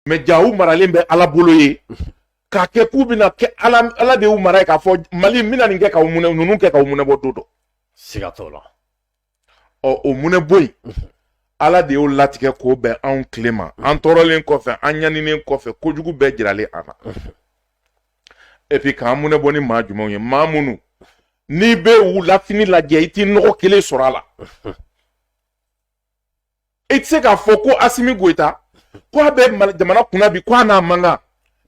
mais jaa u maralen bɛ ala bolo yen k'a kɛ k'u bɛna kɛ ala de y'u mara yen k'a fɔ mali n bɛna nin kɛ ka munɛ ninnu kɛ ka munɛ bɔ don dɔ siga t'o la ɔ o munɛ bɔ yen ala de y'o latigɛ k'o bɛn anw tile ma an tɔɔrɔlen kɔfɛ an ɲaninen kɔfɛ kojugu bɛɛ jiralen an na et puis k'an munɛ bɔ ni maa jumɛnw ye maa minnu n'i bɛ u lafini lajɛ i t'i nɔgɔ kelen sɔrɔ a la e tɛ se k'a fɔ ko asimi goyita ko a bɛ jamana kunna bi ko a n'a man kan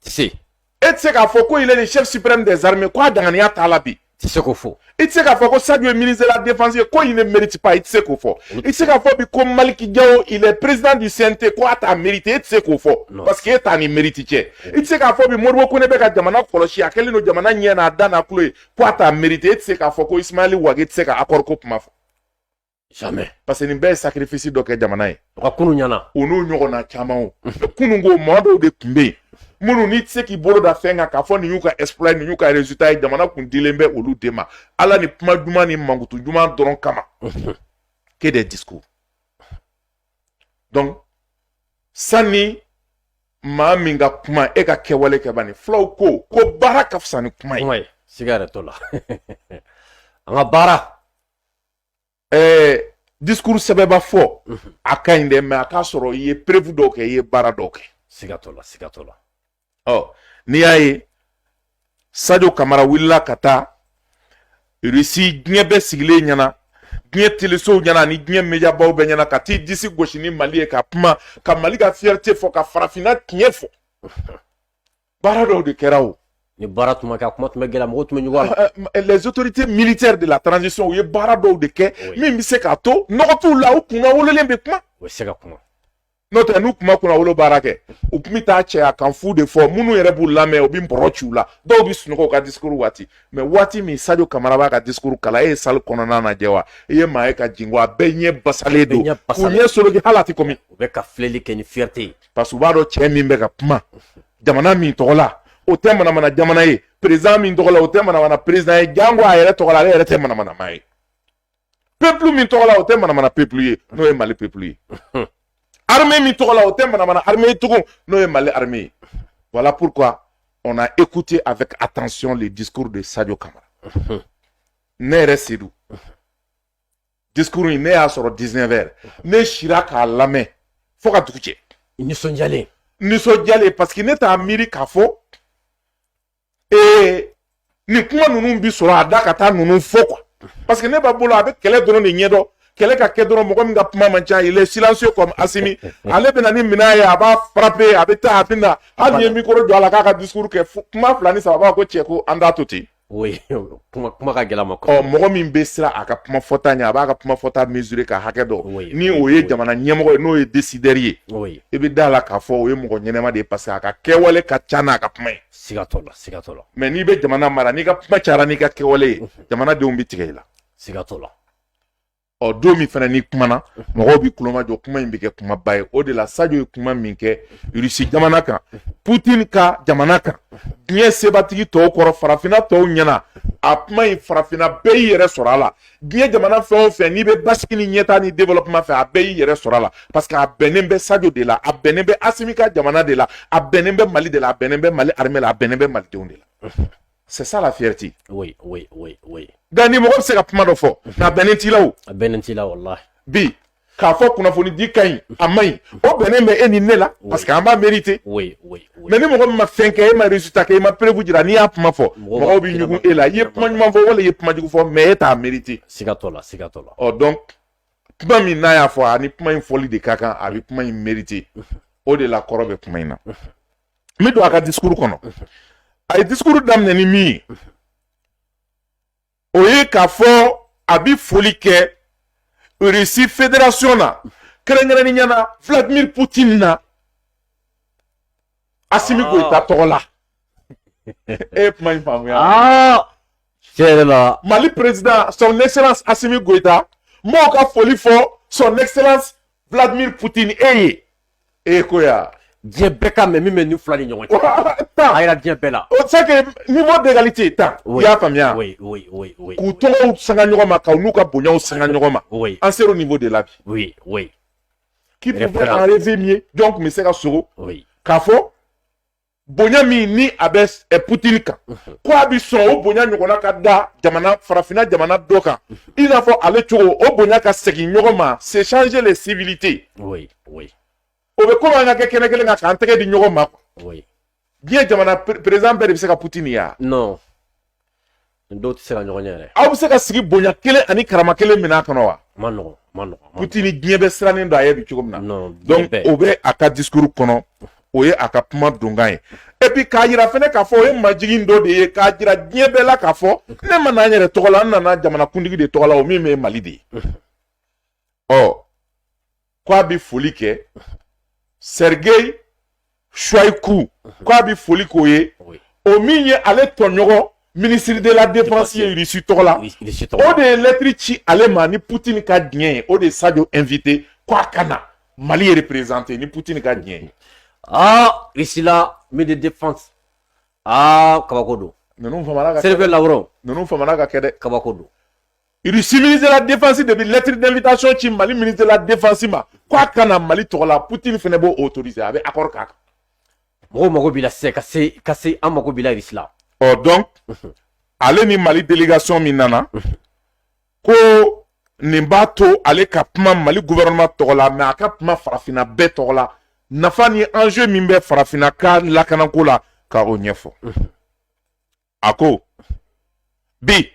tɛ se e tɛ se k'a fɔ ko il est le chef suprême des armées ko a danganiya t'a la bi i tɛ se k'o fɔ i tɛ se k'a fɔ ko sadio ye ministre de la défense ye ko il ne mérite pas i tɛ se k'o fɔ i tɛ se k'a fɔ bi ko maliki jawo il est président du cnt ko a t'a mérite e tɛ se k'o fɔ parce que e t'a ni mérite cɛ i tɛ se k'a fɔ bi moribo kone bɛ ka jamana kɔlɔsi a kɛlen don jamana ɲɛ n'a da n'a tulo ye ko a t'a mérite e tɛ se k'a fɔ ko ismaɛli wage tɛ se ka accord ko kuma fɔ jamais parce que nin bɛɛ ye sacrifice dɔ kɛ jamana ye u ka kunun ɲana u n'u ɲɔgɔnna caman o kunun ko maa dɔw de tun bɛ yen minnu n'i tɛ se k'i bolo da fɛn kan k'a fɔ nin y'u ka exploit nin y'u ka résultat ye jamana kun dilen bɛ olu de ma ala ni kuma duman ni mankutu duman dɔrɔn kama que des discours donc sanni maa min ka kuma e ka kɛwale kɛ bani fulaw ko ko baara ka fisa ni kuma ye kuma ye siga yɛrɛ t'o la an ka baara ɛɛ discours sɛbɛba fɔ mhm. a ka ɲi dɛ mais a k'a sɔrɔ i ye preuve dɔw kɛ i ye baara dɔw kɛ siga t'o la siga t'o la ɔ n'i y'a ye sadio kamara wulila ka taa irisi diɲɛ bɛɛ sigilen ɲɛna diɲɛ telesow ɲɛna ani diɲɛ mediabaw bɛɛ ɲɛna ka t'i disi gosi ni mali ye ka kuma ka mali ka fierté fɔ ka farafinna tiɲɛ fɔ baara dɔw de kɛra o ni baara tun ma kɛ a kuma tun bɛ gɛlɛya mɔgɔw tun bɛ ɲugun a la eh, eh, les autorités militaires de la transition u ye baara dɔw de kɛ min bɛ se k'a to nɔgɔ t'u la u kunnawololen bɛ kuma u bɛ se ka kuma n'o tɛ n'u tun ma kunnawolo baara kɛ u tun bɛ taa cɛya kan fu de fɔ minnu yɛrɛ b'u lamɛn u bɛ bɔrɔ ci u la dɔw bɛ sunɔgɔ u ka discours waati mais waati min sadio kamara b'a ka discours kalan e ye salle kɔnɔna lajɛ wa i ye maa ye ka jingɔn wa bɛɛ ɲɛ basalen don u ɲɛ soloki hali a tɛ kɔmi u bɛ ka filɛli kɛ ni fierté ye parce que u b'a dɔn cɛ min bɛ ka kuma jamana min tɔgɔ la o tɛ manamana jamana ye président min tɔgɔ la o tɛ manamana président ye jango a yɛrɛ tɔgɔ la ale yɛrɛ tɛ manamana maa ye peuple min tɔgɔ la o tɛ manamana peuple ye n'o ye mali peuple ye armée min tɔgɔ la o tɛ manamana armée ye tugun n'o ye mali armée ye voilà pourquoi on a écouté avec attention les discours de sadio kamara ne yɛrɛ sedu discours in ne y'a sɔrɔ 19 heures ne sira k'a lamɛn fo ka dugu jɛ nisɔndiyalen nisɔndiyalen parce que ne t'a miiri k'a fɔ ee nin kuma ninnu bi sɔrɔ a da ka taa ninnu fɔ quoi parce que ne b'a bolo a bɛ kɛlɛ dɔrɔn de ɲɛdɔn kɛlɛ ka kɛ dɔrɔn mɔgɔ min ka kuma man ca il est silencieux comme Asimi ale bɛna ni minɛn ye a b'a frapper a bɛ taa a bɛ na hali n'i ye micro don a la k'a ka discours kɛ kuma fila ni saba a ko cɛ ko an t'a to ten kuma kuma ka gɛlɛn a ma ɔ mɔgɔ min bɛ siran a ka kuma fɔta ɲɛ a b'a ka kuma fɔta mesurer k'a hakɛ dɔn ni o ye jamana ɲɛmɔgɔ ye n'o ye décideur ye i bɛ da la k'a fɔ o ye mɔgɔ ɲɛnama de ye parce que a ka kɛwale ka ca n'a ka kuma ye siga t'o la siga t'o la mais n'i bɛ jamana mara n'i ka kuma cayara n'i ka kɛwale ye jamanadenw bɛ tigɛ i la siga t'o la ɔ don min fana n'i kumana mɔgɔw bɛ kulomajɔ kuma in bɛ kɛ kumaba ye o de la sajo ye kuma min kɛ russie jamana kan putin ka jamana kan diɲɛ sebatigi tɔw kɔrɔ farafinna tɔw ɲɛna a kuma in farafinna bɛɛ y'i yɛrɛ sɔrɔ a la diɲɛ jamana fɛn o fɛn n'i bɛ basigi ni ɲɛtaa ni développement fɛ a bɛɛ y'i yɛrɛ sɔrɔ a la parce que a bɛnnen bɛ sajo de la a bɛnnen bɛ asimi ka jamana de la a bɛnnen bɛ mali de la a bɛnnen bɛ mali armée la a bɛnnen bɛ malidenw de la C'est ça la fierté. Oui, oui, oui, oui. Nka ni mɔgɔ bɛ se ka kuma dɔ fɔ nka a bɛnnen t'i la o. A bɛnnen t'i la walahi. Bi k'a fɔ kunnafonidi ka ɲi a man ɲi o bɛnnen bɛ e ni ne la parce que an b'a mériter. Oui, oui, oui. Mais ni mɔgɔ min ma fɛn kɛ e ma résultat kɛ e ma preuve jira n'i y'a kuma fɔ mɔgɔw bɛ ɲugun e la i ye kuma ɲuman fɔ wala i ye kuma jugu fɔ mais e t'a mériter. Siga t'o la siga t'o la. Ɔ donc kuma min n'a y'a fɔ a ni kuma in fɔli de ka kan a bɛ kuma in mériter o de la kɔrɔ bɛ kuma in na. n bɛ don a ka discours kɔnɔ a ye discours daminɛ ni min ye o ye k'a fɔ a bɛ foli kɛ russie fédération na kɛrɛnkɛrɛnnenya na vladimir putin na asimi goyita ah. tɔgɔ la e ye kuma in faamuya ah. tiɲɛ yɛrɛ la mali président son excellence asimi goyita n b'o ka foli fɔ son excellence vladimir putin e ye e ko ya diɲɛ bɛɛ k'a mɛn min bɛ nin fila ni ɲɔgɔn cɛ a yira diɲɛ bɛɛ la o c'est que niveau d'égalité tan i y'a faamuya k'u tɔgɔw sanga ɲɔgɔn ma k'u n'u ka bonyaw sanga ɲɔgɔn ma an ser'o niveau de la bi qui pouvait en rêver mieux jɔn tun bɛ se ka sogo k'a fɔ bonya min ni a bɛ eh, putini kan ko a bɛ sɔn o bonya ɲɔgɔnna ka da jamana farafinna jamana dɔ kan i n'a fɔ ale cogo o bonya ka segin ɲɔgɔn ma s'échanger les civilités oui oui o bɛ komi an ka kɛ kɛnɛ kelen kan k'an tɛgɛ di ɲɔgɔn ma quoi oui diɲɛ jamana président bɛɛ de bɛ se ka putini ye wa non Nin dɔw tɛ se ka ɲɔgɔn ɲɛ yɛrɛ. Aw bɛ se ka sigi bonya kelen ani karama kelen minɛn kɔnɔ wa? Ma nɔgɔn, ma nɔgɔn. Putini diɲɛ bɛ sirannen don a ye bi cogo min na. Non, donc o bɛ a ka discours kɔnɔ, o ye a ka kuma donkan ye. Et puis k'a yira fɛnɛ k'a fɔ o ye majigin dɔ de ye k'a jira diɲɛ bɛɛ la k'a fɔ ne ma na n yɛrɛ tɔgɔ la, n nana jamanakuntigi de tɔgɔ la, o min bɛ Mali de ye. Ɔ k'a bɛ foli kɛ Sergei Shoigu k'a bɛ foli k'o ye o min ye ale tɔɲɔgɔn ministre de la défense ye irisi tɔgɔ la o de ye lɛtiri ci ale ma ni putin ka diɲɛ ye o de ye sajo invité k'a ka na mali ye représenter ni putin ka diɲɛ ye aa irisi la ministre de la défense aa kabako don ninnu famana ka Sergei Lavrov ninnu famana ka kɛ dɛ kabako don Irisi ministre de la défense de bɛ lettre d'invitation ci mali ministre de la défense ma k'a ka na mali tɔgɔ la putini fɛnɛ b'o autoriser a bɛ accord k'a kan mɔgɔ mago b'i la sisan ka se an mago b'i la sisan ɔ donc ale ni mali délégation min nana ko nin b'a to ale ka kuma mali gouvernement tɔgɔ la mais a ka kuma farafinna bɛɛ tɔgɔ la nafa ni enjeu min bɛ farafinna ka lakanako la ka o ɲɛfɔ a ko bi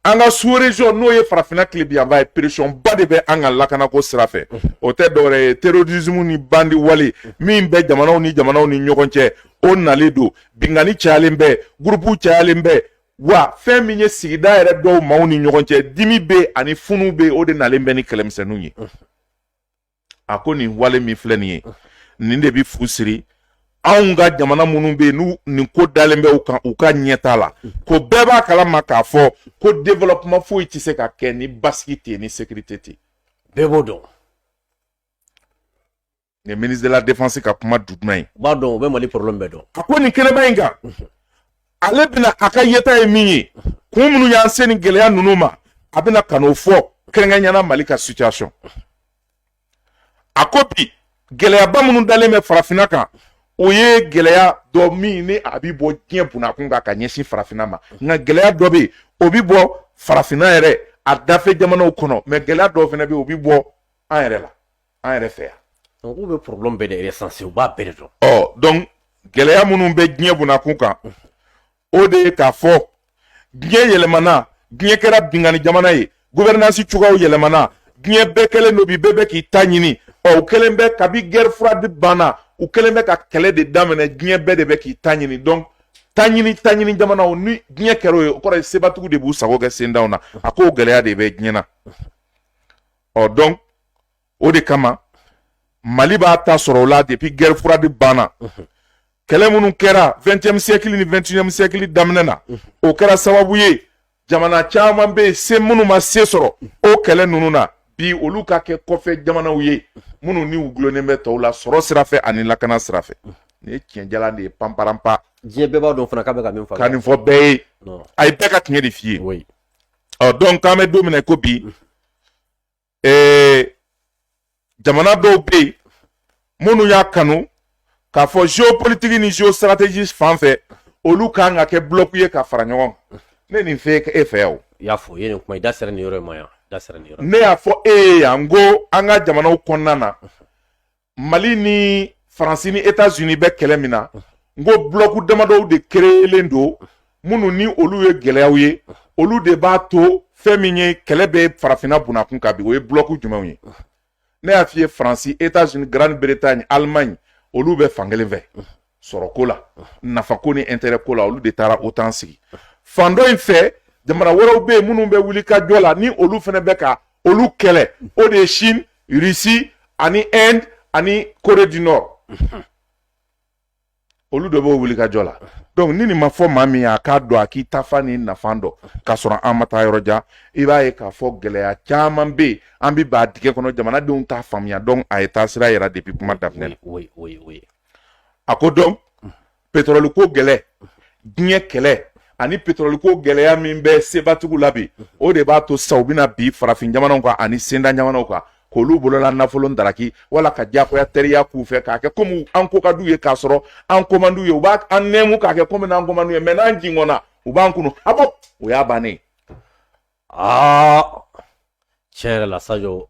an ka sous-région n'o ye farafinna tilebinyanfan ye pression ba de bɛ an ka lakanako sira fɛ o tɛ dɔwɛrɛ ye terrorisme ni bandi wale min bɛ jamanaw ni jamanaw ni ɲɔgɔn cɛ o nalen don binkanni cayalen bɛ gurupu cayalen bɛ wa fɛn min ye sigida yɛrɛ dɔw maaw ni ɲɔgɔn cɛ dimi bɛ ani funu bɛ o de nalen bɛ ni kɛlɛmisɛnninw ye a ko nin wale min filɛ nin ye nin de bɛ fu siri anw ka jamana minnu bɛ yen n'u nin ko dalen bɛ u kan u ka ɲɛtaa la ko bɛɛ b'a kalama k'a fɔ ko développement foyi tɛ se ka kɛ ni basigi tɛ yen ni sécurité tɛ yen bɛɛ b'o dɔn nin ministre de la défense ka kuma duman ye u b'a dɔn u bɛ mali problème bɛɛ dɔn a ko nin kɛnɛba in kan ale bɛna a ka yeta ye min ye kun minnu y'an se nin gɛlɛya ninnu ma a bɛna ka n'o fɔ kɛrɛnkɛrɛnya na mali ka situation a ko bi gɛlɛyaba minnu dalen bɛ farafinna kan o ye gɛlɛya dɔ min ni a bɛ bɔ diɲɛ bunakun kan ka ɲɛsin farafinna ma nka gɛlɛya dɔ bɛ yen o bɛ bɔ farafinna yɛrɛ a dafɛ jamanaw kɔnɔ mais gɛlɛya dɔw fana bɛ yen o bɛ bɔ an yɛrɛ la an yɛrɛ fɛ yan donc u bɛ problème bɛɛ de recenser u b'a bɛɛ de dɔn ɔ donc gɛlɛya minnu bɛ diɲɛ bunakun kan o de ye k'a fɔ diɲɛ yɛlɛmana diɲɛ kɛra binkanni jamana ye gouvernance cogoyaw yɛlɛmana diɲɛ bɛɛ kɛlen don bi bɛɛ bɛ k'i ta ɲini ɔ u kɛlen bɛ kabi guerre froide banna u kɛlen bɛ ka kɛlɛ de daminɛ diɲɛ bɛɛ de bɛ k'i ta ɲini donc taɲini taɲini jamana ni diɲɛ kɛr'o ye o kɔrɔ ye sebatigiw de b'u sago kɛ sentanw na a k'o gɛlɛya de bɛ diɲɛ na ɔ donc o de kama mali b'a ta sɔrɔ o la depuis guerre froide banna kɛlɛ minnu kɛra 20e siècle ni 21e siècle daminɛ na o kɛra sababu ye jamana caman bɛ yen se minnu ma se sɔrɔ o kɛlɛ ninnu na bi olu ka kɛ kɔfɛ jamanaw ye minnu ni u gulonnen bɛ tɔw la sɔrɔ sira fɛ ani lakana sira fɛ nin ye tiɲɛ jalan de ye panparanpa diɲɛ bɛɛ b'a dɔn fana k'a bɛ ka min fɔ ka nin fɔ bɛɛ ye a ye bɛɛ ka tiɲɛ de f'i ye ɔ donc k'an bɛ don min na ko bi ee jamana dɔw bɛ yen minnu y'a kanu k'a fɔ géopolitique ni géostratégie fan fɛ olu ka kan ka kɛ bloc ye ka fara ɲɔgɔn kan ne nin fɔ e fɛ yan o. i y'a fɔ i ye nin kuma i da sera nin yɔrɔ in ma yan da sera nin yɔrɔ. ne y'a fɔ e ye yan n ko an ka jamanaw kɔnɔna na mali ni faransi ni etats unis bɛ kɛlɛ min na n ko bulɔku damadɔw de kereyelen don minnu ni olu ye gɛlɛyaw ye olu de b'a to fɛn min ye kɛlɛ bɛ farafinna bunakun kan bi o ye bulɔku jumɛnw ye ne y'a f'i ye faransi etats unis grande bretagne allemagne olu bɛ fankelen fɛ sɔrɔko la nafako ni intérêt ko la olu de taara OTAN sigi fan dɔ in fɛ jamana wɛrɛw bɛ yen minnu bɛ wulikajɔ la ni olu fana bɛ ka olu kɛlɛ o de ye Chine Russie ani Inde ani Corée du Nord olu de b'o wulikajɔ la donc ni nin ma fɔ maa min ye a k'a dɔn a k'i taafan ni nafan dɔn k'a sɔrɔ an ma taa yɔrɔ jan i b'a ye k'a fɔ gɛlɛya caman bɛ yen an bɛɛ b'a dingɛ kɔnɔ jamanadenw t'a faamuya donc a ye taasira yira depuis kuma daminɛ la. a ko donc petrɔli ko gɛlɛ diɲɛ kɛlɛ ani petrɔli ko gɛlɛya min bɛ sebatigiw la bi o de b'a to sisan u bɛna bin farafin jamanaw kan ani sentan jamanaw kan k'olu bolola nafolo daraki wala ka diyagoya teriya k'u fɛ k'a kɛ komi an ko ka d'u ye k'a sɔrɔ an ko man d'u ye u b'an nɛmu k'a kɛ komi n'an ko man d'u ye mɛ n'an jingɔnna u b'an kunu habo o y'a bannen aa tiɲɛ yɛrɛ la sajo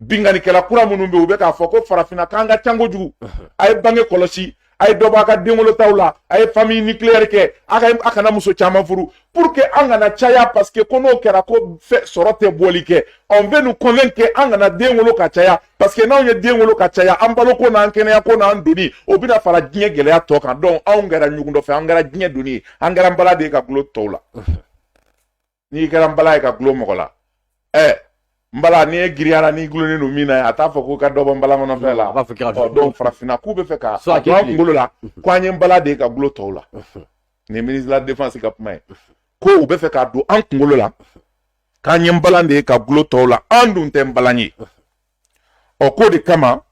binkannikɛla kura minnu bɛ yen u bɛ k'a fɔ ko farafinna k'an ka ca kojugu a ye bange kɔlɔsi a ye dɔ bɔ a ka denwolotaw la a ye famille nucléaire kɛ a ka a kana muso caman furu pour que an kana caya parce que ko n'o kɛra ko sɔrɔ tɛ bɔli kɛ on veut nous convaincre an kana den wolo ka caya parce que n'anw ye den wolo ka caya an baloko n'an kɛnɛyako n'an doni o bɛna fara diɲɛ gɛlɛya tɔ kan donc anw kɛra ɲugun dɔ fɛ an kɛra diɲɛ doni ye an kɛra nbalan de ye ka gulon tɔw la n'i kɛra nbalan ye ka gulon mɔgɔ la ɛ nbalan ni e giriyara n'i gulonnen don min na a t'a fɔ ko ka dɔ bɔ nbalan kɔnɔfɛn la donc farafinna k'u bɛ fɛ ka don an kunkolo la ko an ye nbalan de ye ka gulon tɔw la nin ye ministre de la défense ka kuma ye ko u bɛ fɛ ka don an kunkolo la k'an ye nbalan de ye ka gulon tɔw la an dun tɛ nbalan ye ɔ k'o de kama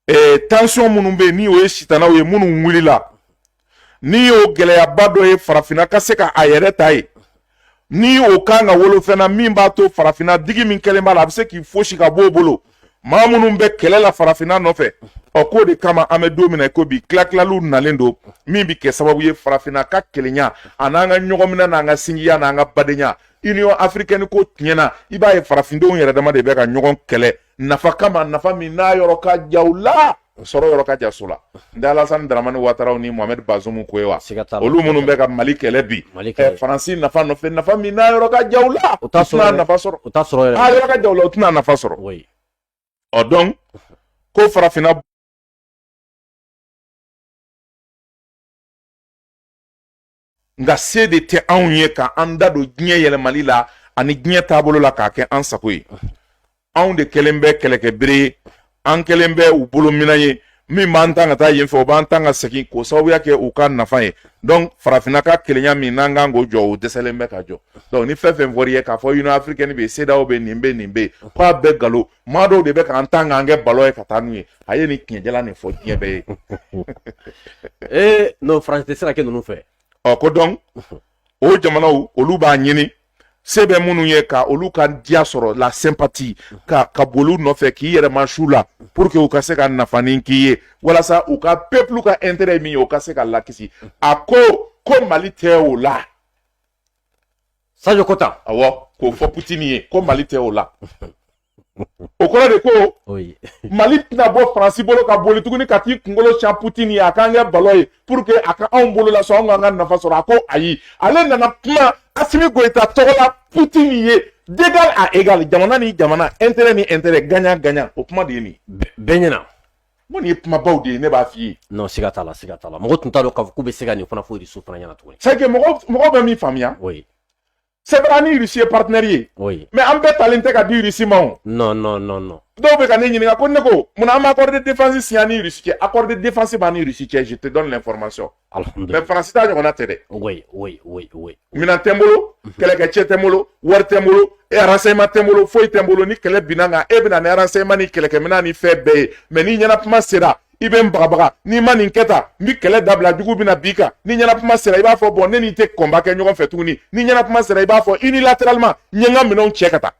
eh, tension minnu bɛ yen ni o ye sitanaw ye minnu wulila n'i y'o gɛlɛyaba dɔ ye farafinna ka se ka a yɛrɛ ta ye ni o kan ka wolo fɛn na min b'a to farafinna digi min kɛlen b'a la a bɛ se k'i fosi ka b'o bolo maa minnu bɛ kɛlɛ la farafinna nɔfɛ ɔ k'o de kama an bɛ don min na i ko bi tilatilaliw nalen don min bɛ kɛ sababu ye farafinna ka kelenya a n'an ka ɲɔgɔnminɛ n'an ka sinjiya n'an ka badenya union africaine ko tiɲɛna i b'a ye farafindenw yɛrɛ dama de bɛ ka ɲɔgɔn kɛlɛ nafa kama nafa min n'a yɔrɔ ka jan u la sɔrɔ yɔrɔ ka jan so la n tɛ alasani daramani wataraw ni mohamɛd bazumu ko ye wa olu minnu bɛ ka mali kɛlɛ bi eh, faransi nafa nɔfɛ nafa min n'a yɔrɔ ka jan u la u tɛna nafa sɔrɔ u t'a sɔrɔ yɛrɛ yɔrɔ ka jan u la u tɛna nafa sɔrɔ ɔ donc ko farafinna nka se de tɛ anw ye ka an da don diɲɛ yɛlɛmali la ani diɲɛ taabolo la k'a kɛ an sago ye anw de kɛlen bɛ kɛlɛkɛbere ye an kɛlen bɛ u bolo minan ye min b'an tan ka taa yen fɛ o b'an tan ka segin k'o sababuya kɛ u ka nafa ye donc farafinna ka kelenya min n'an kan k'o jɔ o dɛsɛlen bɛ ka jɔ donc ni fɛn fɛn fɔr'i ye k'a fɔ union africaine bɛ yen CEDEAO bɛ nin bɛ nin bɛ yen k'a bɛɛ nkalon maa dɔw de bɛ k'an tan k'an kɛ balɔn ye ka taa n'u ye a ye nin tiɲɛjala nin fɔ diɲɛ bɛɛ ye ee non faransi tɛ se ka kɛ ninnu fɛ ɔ ko donc o jamanaw olu b'a ɲini se bɛ minnu ye ka olu ka diya sɔrɔ la sympathie ka boli u nɔfɛ k'i yɛrɛ ma su la pour que u ka se ka nafanin k'i ye walasa u ka peuple ka intérêt min ye o ka se ka lakisi a ko ko mali tɛ o la sajo ko tan awɔ k'o fɔ putini ye ko mali tɛ o la o kɔrɔ de ko mali tɛna bɔ faransi bolo ka boli tuguni ka t'i kunkolo siɲɛ putini ye a k'an kɛ balɔn ye pour que a ka anw bolo lasɔn anw k'an ka nafa sɔrɔ a ko ayi ale nana kuma asimi goyita tɔgɔ la putini ye d'égal à égal jamana ni jamana intérêt ni intérêt gagnant gagnant o kuma de ye nin bɛɛ ɲɛna Mais nin ye kumabaw de ye ne b'a f'i ye non siga t'a la siga t'a la mɔgɔ tun t'a dɔn k'a fɔ k'u bɛ se ka nin fana fɔ irisiw fana ɲɛna tuguni c'est que mɔgɔ mɔgɔ bɛ min faamuya oui c'est vrai an ni irisi ye partenaire ye oui mais an bɛɛ talen tɛ ka di irisi ma o non non non non dɔw bɛ ka ne ɲininka ko ne ko mun na an ma accord de défense signé an ni irisi cɛ accord de défense b'an ni irisi cɛ je te donne l'information mais faransi ta ɲɔgɔnna tɛ dɛ minɛn tɛ n bolo mhm. kɛlɛkɛcɛ tɛ n bolo wari tɛ n bolo renseignement tɛ n bolo foyi tɛ n bolo ni kɛlɛ binna n kan e bɛ na ni renseignement ni kɛlɛkɛminɛn ni fɛn bɛɛ ye mais ni ɲɛnakuma sera i bɛ n bagabaga n'i ma nin kɛ tan n bɛ kɛlɛ dabila jugu bɛna b'i kan ni ɲɛnakuma sera i b'a fɔ bon ne n'i tɛ combat kɛ ɲɔgɔn fɛ tuguni ni ɲɛnakuma sera i b'a fɔ unilatéralement n ye n ka minɛnw cɛ ka taa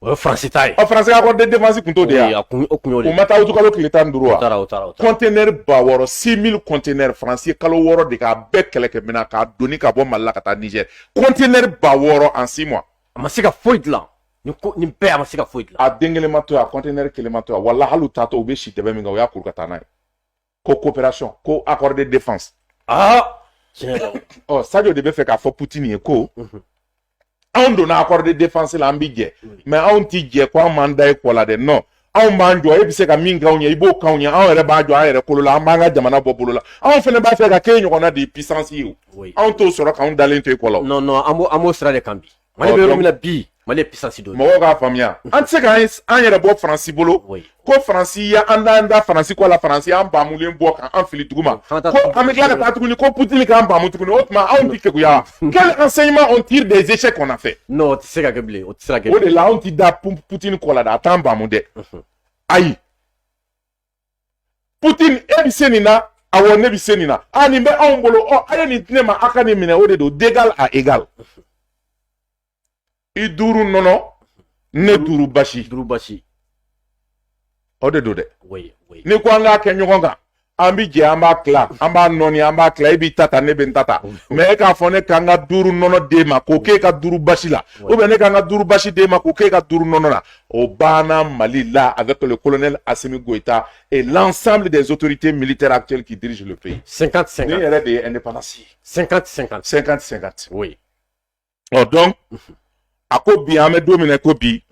O ye faransi ta ye ɔ faransi ka accord de défense kun t'o de ye a kun o kun y'o de ye o ma taa utukalo tile tan ni duuru wa o taara o taara o taara kɔntenɛri ba wɔɔrɔ six mille kɔntenɛri faransi ye kalo wɔɔrɔ de k'a bɛɛ kɛlɛkɛminɛn k'a doni ka bɔ mali la ka taa nizɛri kɔntenɛri ba wɔɔrɔ en six mois a ma se ka foyi dilan nin ko nin bɛɛ a ma se ka foyi dilan a den kelen ma to yan a kɔntenɛri kelen ma to yan wala hali u taatɔ u bɛ si dɛbɛn min kan u y'a kuru ka taa n'a ye ko coopération ko accord de défense ah ɔ sadio de bɛ fɛ k'a fɔ putin ye ko mhm. anw donna accord de défense la an bi jɛ mais anw ti jɛ ko an m'an da e kɔ la dɛ non anw b'an jɔ e bɛ se ka min k'anw ye i b'o k'anw ye anw yɛrɛ b'a jɔ an yɛrɛ kolo la an b'an ka jamana bɔ bolo la anw fana b'a fɛ ka k'e ɲɔgɔnna de ye puissance ye o anw t'o sɔrɔ k'anw dalen to e kɔ la o. non non an b'o an b'o sira de kan bi. mali bɛ yɔrɔ min na bi mali ye puissance dɔ ye mɔgɔw k'a faamuya an tɛ se ka an yɛrɛ bɔ faransi bolo ko faransi ya an t'an da faransi kɔ la faransi y'an baamulen bɔ ka an fili duguma ko an bɛ tila ka taa tuguni ko putini k'an baamu tuguni o tuma anw tɛ keguya quel enseignement on tire des échecs qu'on a fait non o tɛ se ka kɛ bilen o tɛ se ka kɛ o de la anw tɛ da putini kɔ la dɛ a t'an baamu dɛ ayi putin e bɛ se nin na awɔ ne bɛ se nin na a nin bɛ anw bolo ɔ a ye nin di ne ma a ka nin minɛ o de don d'égal à égal i duuru nɔnɔ ne duuru basi duuru basi o de don dɛ n'i ko an k'a kɛ ɲɔgɔn kan an bi jɛ an b'a tila an b'a nɔɔni an b'a tila e b'i ta ta ne bɛ n ta ta mais e k'a fɔ ne ka n ka duuru nɔnɔ d'e ma k'o k'e ka duuru basi la ou bien ne ka n ka duuru basi d'e ma k'o k'e ka duuru nɔnɔ la o banna Mali la avec le colonel Assimi Goïta et l'ensemble des autorités militaires actuelles qui dirigent le pays. 50-50. Nin yɛrɛ de ye indépendance ye. 50-50. 50-50. Oui. Ɔ donc a ko bi an bɛ don min na ko bi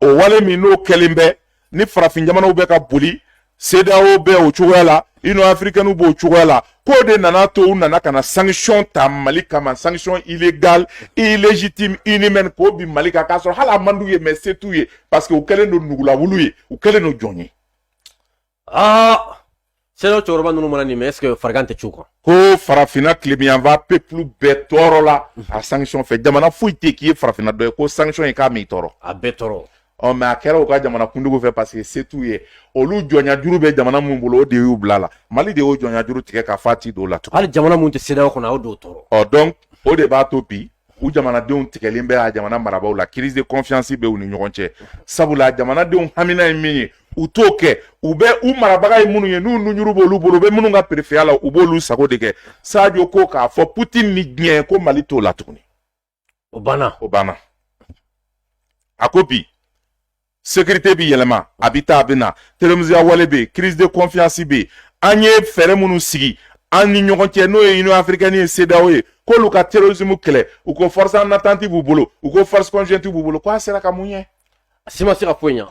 o wale min n'o kɛlen bɛ ni farafin jamanaw bɛ ka boli CEDEAO bɛ o cogoya la Union africaine b'o cogoya la k'o de nana to u nana ka na sanction ta Mali kama sanction illégale illégitime inhumaine k'o bi Mali kan k'a sɔrɔ hali a man d'u ye mais se t'u ye parce que u kɛlen don nugulawulu ye u kɛlen don jɔn ye aa CEDEAO cɛkɔrɔba ninnu mana nin mɛn est-ce que farigan tɛ c'u kan ko farafinna tilebiyanfa peuple bɛɛ tɔɔrɔla a sanction fɛ jamana foyi tɛ k'i ye farafinna dɔ ye ko sanction ye k'a m'i tɔɔrɔ a bɛɛ tɔɔrɔ ɔ mais a kɛra u ka jamana kuntigiw fɛ parce que se t'u ye olu jɔnyajuru bɛ jamana minnu bolo o de y'u bila a la mali de y'o jɔnyajuru tigɛ k'a f'a ti don a la tugun hali jamana minnu tɛ CEDEAO kɔnɔ a y'o dɔ tɔɔrɔ ɔ donc o de b'a to bi u jamanadenw tigɛlen bɛ a jamana marabaaw la crise de confiance bɛ u ni ɲɔgɔn cɛ sabula jamanadenw hamina ye min ye u t'o kɛ u bɛ u marabaga ye minnu ye n'u nunjuru b'olu bolo u bɛ minnu ka perefiya la u b'olu sago de kɛ sadio ko k'a fɔ putin ni diɲɛ ko mali t'o la tuguni o banna o banna a ko bi sekirite bi yɛlɛma a bi taa a bɛ na terorisimiya wale bɛ yen crise de confiance bɛ yen an ye fɛɛrɛ minnu sigi an ni ɲɔgɔn cɛ n'o ye union africaine ye CEDEAO ye k'olu ka terrorisme kɛlɛ u ko force en attente b'u bolo u ko force conjointe b'u bolo k'a sera ka mun ɲɛ a si ma se ka foyi ɲɛ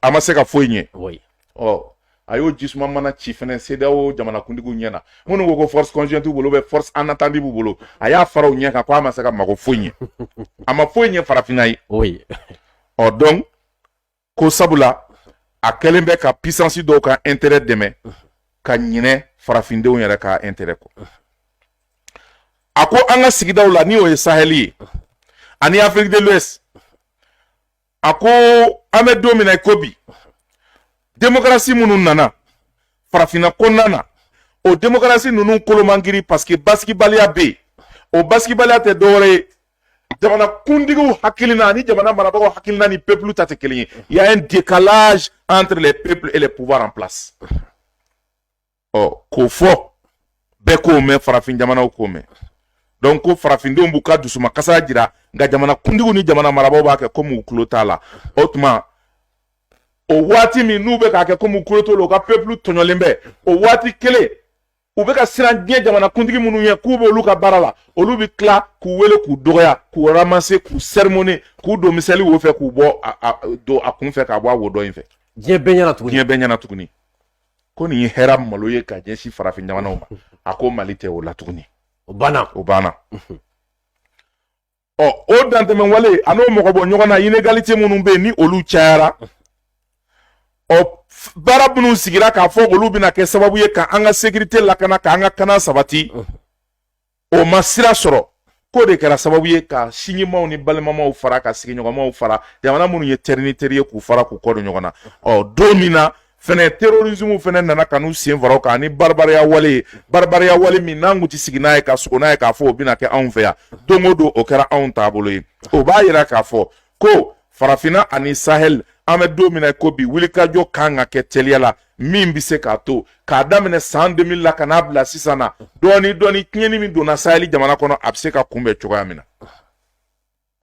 a ma se ka foyi ɲɛ ɔ a y'o ji suma mana ci fɛnɛ CEDEAO jamanakuntigiw ɲɛ na minnu ko ko force conjointe b'u bolo force en attente b'u bolo a y'a fara u ɲɛ kan ko a ma se ka mago foyi ɲɛ a ma foyi ɲɛ farafinna ye ɔ donc ko sabula a kɛlen bɛ ka puissance dɔw ka intérêt dɛmɛ ka ɲinɛ farafindenw yɛrɛ ka intérêt kɔ a ko an ka sigidaw la ni o ye sahɛli ye ani afrique de l'ouest a ko an bɛ don min na i ko bi demokarasi minnu nana farafinna kɔnɔna na o demokarasi ninnu kolo man girin paseke basigibaliya bɛ yen o basigibaliya tɛ dɔwɛrɛ ye jamana kuntigiw hakilina ani jamana marabagaw hakilina ni pepulu ta tɛ kelen ye il y a un décalage entre les peuples et les pouvoirs en place ɔ k'o fɔ bɛɛ k'o mɛn farafin jamanaw k'o mɛn donc ko farafindenw b'u ka dusuma kasa jira nka jamana kuntigiw ni jamana marabaaw b'a kɛ komi u tulo t'a la o tuma o waati min n'u bɛ k'a kɛ komi u tulo t'o la u ka pepulu tɔɲɔlen bɛ o waati kelen u bɛ ka siran diɲɛ jamana kuntigi minnu ye k'u b'olu ka baara la olu bɛ tila k'u wele k'u dɔgɔya k'u ramasser k'u sermonner k'u don miseli wo fɛ k'u bɔ don a kun fɛ k'a bɔ a wo dɔ in fɛ diɲɛ bɛɛ ɲɛna tuguni diɲɛ bɛɛ ɲɛna tuguni ko nin kɛra malo ye ka ɲɛsin farafin jamanaw ma a ko mali tɛ o la tuguni o banna o banna ɔ o dantɛmɛ wale an'o mɔgɔ bɔ ɲɔgɔn na inegalite minnu bɛ yen ni olu cayara ɔ baara minnu sigira k'a fɔ olu bɛna kɛ sababu ye ka an ka sekirite lakana ka an ka kana sabati o ma sira sɔrɔ k'o de kɛra sababu ye ka sinjimaw ni balimamaw fara ka sigiɲɔgɔnmaw fara jamana minnu ye teri ni teri ye k'u fara k'u kɔ don ɲɔgɔn na ɔ don min na fɛnɛ terrorisme fɛnɛ nana ka n'u sen fara o kan ni baribariya wale ye baribariya wale min n'an kun ti sigi n'a ye ka sugo n'a ye k'a fɔ o bɛna kɛ anw fɛ yan don o don o kɛra anw taabolo ye o b'a yira k'a fɔ ko farafinna ani sahel an bɛ don min na i ko bi wulikajɔ kan ka kɛ teliya la min bɛ se k'a to k'a daminɛ san 2000 la ka n'a bila sisan na dɔɔni dɔɔni tiɲɛni min donna saheli jamana kɔnɔ a bɛ se ka kunbɛn cogoya min na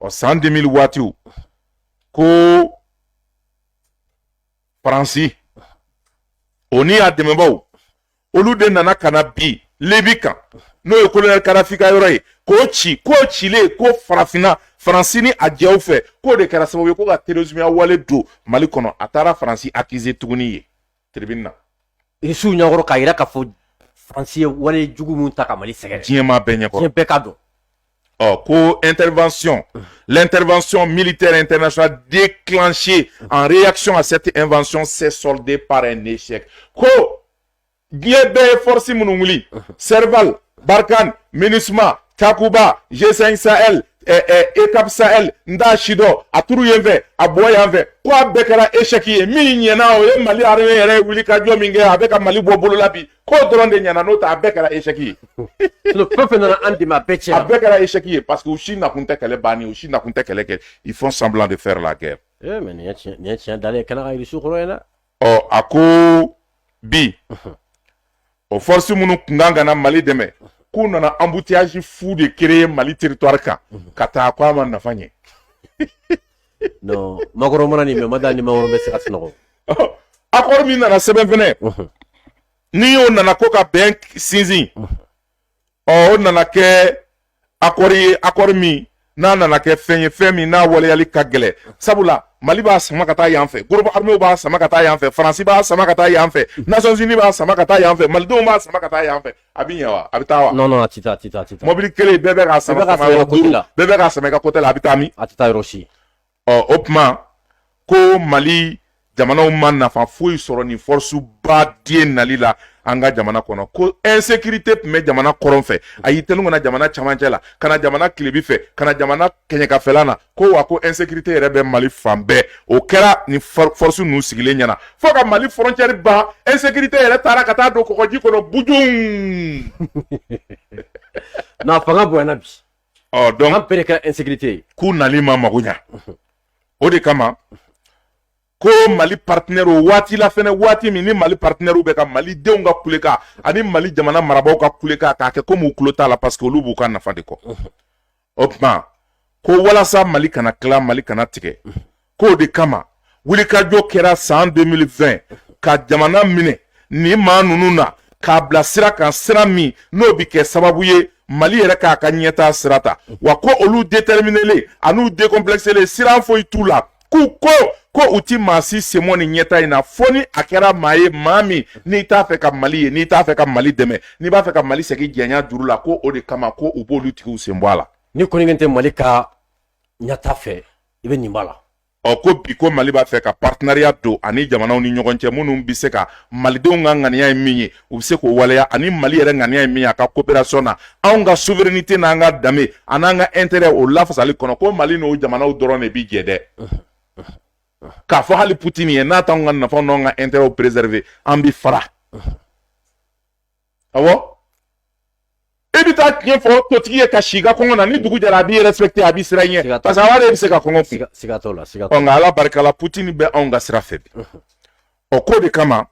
ɔ san 2000 waatiw ko faransi o ni a dɛmɛbaaw olu de nana ka na bin libi kan n'o ye kolonɛli kadafi ka yɔrɔ ye k'o ci k'o cilen kɔ farafinna faransi ni a jɛw fɛ k'o de kɛra sababu ye ko ka terorisimiya wale don mali kɔnɔ a taara faransi akize tuguni yen tiribini na irisiw ɲɛkɔrɔ k'a yira k'a fɔ faransi ye wale jugu min ta ka mali sɛgɛrɛ diɲɛmaa bɛɛ ɲɛkɔrɔ diɲɛ bɛɛ k'a dɔn ɔ ko intervention l'intervention militaire internationale déclenchée en réaction à cette invention s'est soldée par un échec ko diɲɛ bɛɛ ye force minnu wuli serval barkhane minusma takuba g5 sahel eh, eh, eucap sahel n t'a si dɔn a turu yen fɛ a bɔ yan fɛ ko a bɛɛ kɛra échec ye min ɲɛna o ye mali armée yɛrɛ ye wulikajɔ min kɛ a bɛ ka mali bɔ bolo la bi k'o dɔrɔn de ɲɛna n'o tɛ a bɛɛ kɛra échec ye fɛn fɛn nana an dɛmɛ a bɛɛ tiɲɛna a bɛɛ kɛra échec ye parce que u si nakun tɛ kɛlɛ banni u si nakun tɛ kɛlɛ kɛ ils font semblant de faire la guerre eh, mais nin ye tiɲɛ nin ye tiɲɛ dalen ye kɛnɛ kan yirisun kɔrɔ ye dɛ ɔ a ko bi o force minnu kun kan ka na mali dɛmɛ k'u nana embouteillage fou de créer mali territoire kan ka taa ko a ma nafa ɲɛ non macron mana nin mɛ ma da ni macron bɛ se ka sunɔgɔ accord min nana sɛbɛn fɛnɛ ni o nana ko ka bɛn sinsin ɔ o nana kɛ accord ye accord min n'a nana kɛ fɛn ye fɛn min n'a waleyali ka gɛlɛn sabula mali b'a sama ka taa yan fɛ groupe arméw b'a sama ka taa yan fɛ faransi b'a sama ka taa yan fɛ nations unies b'a sama ka taa yan fɛ malidenw b'a sama ka taa yan fɛ a bɛ ɲɛ wa a bɛ taa wa. non non a tɛ taa a tɛ taa a tɛ taa. mɔbili kelen bɛɛ bɛ k'a sama k'a sama yɔrɔ duuru bɛɛ bɛ k'a sama ka côté la a bɛ taa min. a tɛ taa yɔrɔ si. ɔ o tuma ko mali jamanaw ma nafa foyi sɔrɔ nin force ba den nali la an ka jamana kɔnɔ ko insécurité tun bɛ jamana kɔrɔn fɛ a y'i tɛnu ka na jamana camancɛ la ka na jamana tilebin fɛ ka na jamana kɛɲɛkafɛla na ko wa ko insécurité yɛrɛ bɛ mali fan bɛɛ o kɛra nin force ninnu sigilen ɲɛ na fo ka mali frontière ban insécurité yɛrɛ taara ka taa don kɔgɔji kɔnɔ bujun na fanga bonyana bi ɔ donc an pere kɛra insécurité ye k'u nali ma mago ɲa o de kama ko mali partenaire o waati la fɛnɛ waati min ni mali partenairew bɛ ka mali denw ka kulekan ani mali jamana marabaw ka kulekan k'a kɛ komi u kulo t'a la parce que olu b'u ka nafa de kɔ o tuma ko walasa mali kana tila mali kana tigɛ k'o de kama wulikajɔ kɛra san 2020 ka jamana minɛ nin maa ninnu na k'a bila sira kan sira min n'o bɛ kɛ sababu ye mali yɛrɛ k'a ka ɲɛtaa sira ta wa ko olu déterminélen an'u décomplexélen siran foyi t'u la k'u ko ko u ti maa si sen bɔ nin ɲɛtaa in na fo ni a kɛra maa ye maa min n'i t'a fɛ ka mali ye n'i t'a fɛ ka mali dɛmɛ n'i b'a fɛ ka mali segin jɔnya juru la ko o de kama ko u b'olu tigiw sen bɔ a la n'i kɔni tɛ mali ka ɲɛtaa fɛ i bɛ nin b'a la ɔ ko bi ko mali b'a fɛ ka partenariat don ani jamanaw ni ɲɔgɔn cɛ minnu bɛ se ka malidenw ka ŋaniya ye min ye u bɛ se k'o waleya ani mali yɛrɛ ŋaniya ye min ye a ka coopération na anw ka souveraineté n'an ka danbe a n'an ka intérêt o lafasali kɔnɔ ko mali n'o jamanaw dɔrɔn de bi jɛ dɛ k'a fɔ hali putin ye n'a t'anw ka nafa n'anw ka intérêt préserver an bi fara awɔ e bɛ taa tiɲɛ fɔ totigi ye ka si i ka kɔngɔ na ni dugu jɛra a b'i respecter a bi siran i ɲɛ parce que a b'a dɔn e bɛ se ka kɔngɔ kun siga t'o la siga t'o la ɔ nka ala barika la putin bɛ anw ka sira fɛ bi ɔ k'o de kama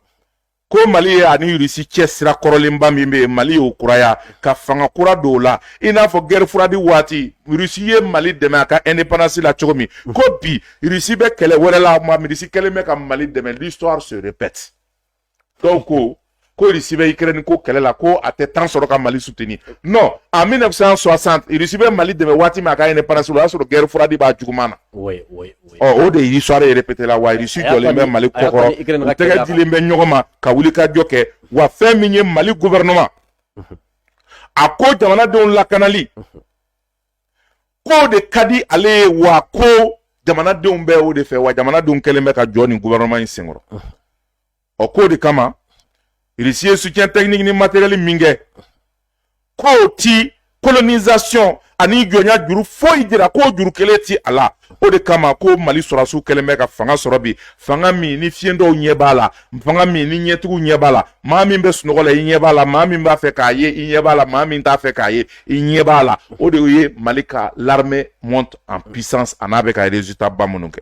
ko mali ye ani irisi cɛ sira kɔrɔlenba min bɛ yen mali y'o kuraya ka fanga kura don o la i n'a fɔ guerre froide waati irisi ye mali dɛmɛ a ka indépendance la cogo min mm. ko bi irisi bɛ kɛlɛ wɛrɛ la irisi kɛlen bɛ ka mali dɛmɛ l'histoire se répète donc ko irisi bɛ ikirɛni ko kɛlɛ la ko a tɛ temps sɔrɔ ka mali soutenir non en 1960 irisi bɛ mali dɛmɛ waati min a ka indépendance la o y'a sɔrɔ guerre froide b'a juguman na o de ye histoire ye répété la wa irisi jɔlen bɛ mali kɔkɔrɔ u tɛgɛ dilen bɛ ɲɔgɔn ma ka wuli ka jɔ kɛ wa fɛn min ye mali gofɛrɛnɛma a ko jamanadenw lakanali k'o de ka di ale ye wa ko jamanadenw bɛ o de fɛ wa jamanadenw kɛlen bɛ ka jɔ nin gofɛrɛnɛma in senkɔrɔ ɔ k'o de kama irisi ye soutien technique ni matériel min kɛ k'o ti colonisation ani jɔnya juru foyi jira k'o juru kelen ti a la o de kama ko mali sɔrɔdasiw kɛlen bɛ ka fanga sɔrɔ bi fanga min ni fiyentɔw ɲɛ b'a la fanga min ni ɲɛtigiw ɲɛ b'a la maa min bɛ sunɔgɔ la i ɲɛ b'a la maa min b'a fɛ k'a ye i ɲɛ b'a la maa min t'a fɛ k'a ye i ɲɛ b'a la o de ye mali ka l'armée monte en puissance a n'a bɛ ka résultat ba minnu kɛ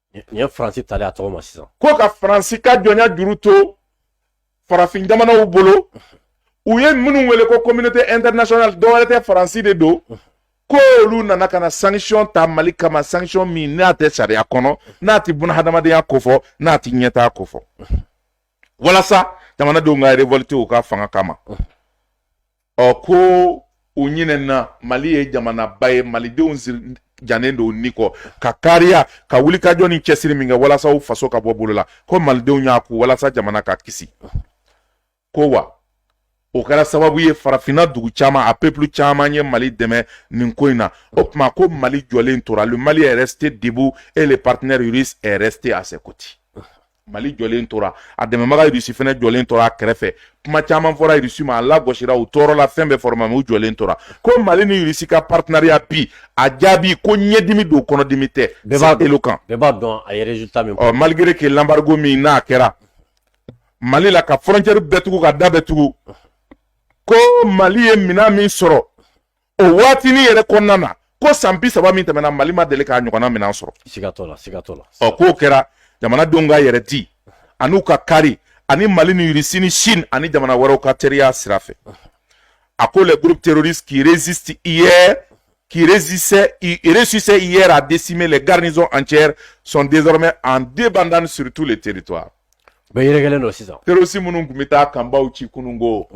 Nin ye faransi tali a tɔgɔ ma sisan ko ka faransi ka jɔnya juru to farafin jamanaw bolo u ye minnu wele ko communauté internationale dɔwɛrɛ tɛ faransi de don ko olu nana ka na sanction ta mali kama sanction min n'a tɛ sariya kɔnɔ n'a tɛ bunahadamadenya kofɔ n'a tɛ ɲɛtaa kofɔ walasa jamanadenw ka révolter u ka fanga kama ɔ ko u ɲinɛna mali ye jamanaba ye malidenw jijanen don ni kɔ ka kariya ka wulikajɔ ni cɛsiri min kɛ walasa u faso ka bɔ bolo la ko malidenw y'a kun walasa jamana ka kisi ko wa o kɛra sababu ye farafinna dugu caman a peuple caman ye mali dɛmɛ nin ko in na o tuma ko mali jɔlen tora le mali est resté debout et le partenaire russe est resté à ses côtés mali jɔlen tora a dɛmɛbaga irisi fɛnɛ jɔlen tora a kɛrɛfɛ kuma caman fɔra irisi ma a lagosira u tɔɔrɔla fɛn bɛɛ fɔra u ma u jɔlen tora ko mali ni irisi ka partenariat bi a jaabi ko ɲɛdimi don kɔnɔdimi tɛ c'est éloquent malgré que l'embargo min n'a kɛra mali la ka frontière bɛɛ tugu ka da bɛɛ tugu ko mali ye minan min sɔrɔ o waatinin yɛrɛ kɔnɔna na ko san bi saba min tɛmɛna mali ma deli k'a ɲɔgɔnna minɛn sɔrɔ ɔ k'o kɛra jamanadenw ka yɛrɛ di an'u ka kari ani mali ni irisi ni chine ani jamana wɛrɛw ka teriya sira fɛ a ko les groupes terroristes qui résiste hier qui résistait, réussissait hier à décimer les garnisons entières sont désormais en débandade sur tous les territoires. Terroriste minnu tun bɛ taa kanbaw ci kunun ko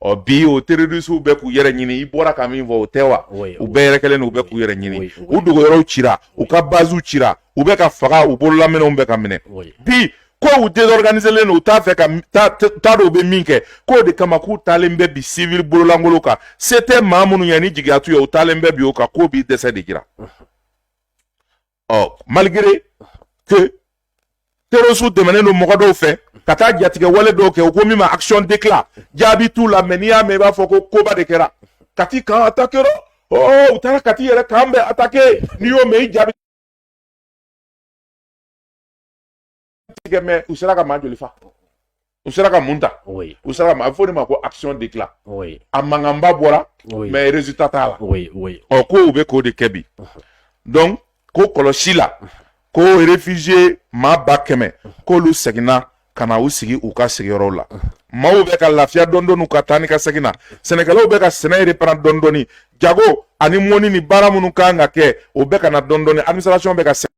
ɔ bi o terorisiw bɛ k'u yɛrɛ ɲini i bɔra ka min fɔ o tɛ wa u bɛɛ yɛrɛkɛlen don u bɛ k'u yɛrɛ ɲini u dogoyɔrɔw cira u ka baziw cira u bɛ ka faga u bololaminɛnw bɛ ka minɛ bi ko u désorganiselen don u t'a fɛ ka t'a dɔn u bɛ min kɛ k'o de kama k'u taalen bɛ bi civil bololankolon kan se tɛ maa minnu ye ni jigiya t'u ye u taalen bɛ bi o kan k'o b'i dɛsɛ de jira ɔ malgré que terroristes dɛmɛnen don mɔgɔ dɔw fɛ ka taa jatigɛ wale dɔw kɛ u ko min ma action d'éclat jaabi t'u la mais n'i y'a mɛn i b'a fɔ ko koba de kɛra kati kan attaqué rɔ ɔ u taara kati yɛrɛ kan bɛ attaqué n'i y'o mɛn i ja bɛ tigɛ mais u sera ka maa joli fa u sera ka mun ta u sera ka ma a bɛ fɔ de ma ko action d'éclat a mankanba bɔra mais résultat t'a la ɔ ko u bɛ k'o de kɛ bi donc ko kɔlɔsi la ko réfugié maa ba kɛmɛ k'olu seginna ka na u sigi u ka sigiyɔrɔw la maaw bɛ ka lafiya dɔɔni ka taa ni ka segin na sɛnɛkɛlaw bɛ ka sɛnɛ reprend dɔɔni jago ani mɔnni ni baara minnu kan ka kɛ o bɛ ka na dɔɔni administration bɛ ka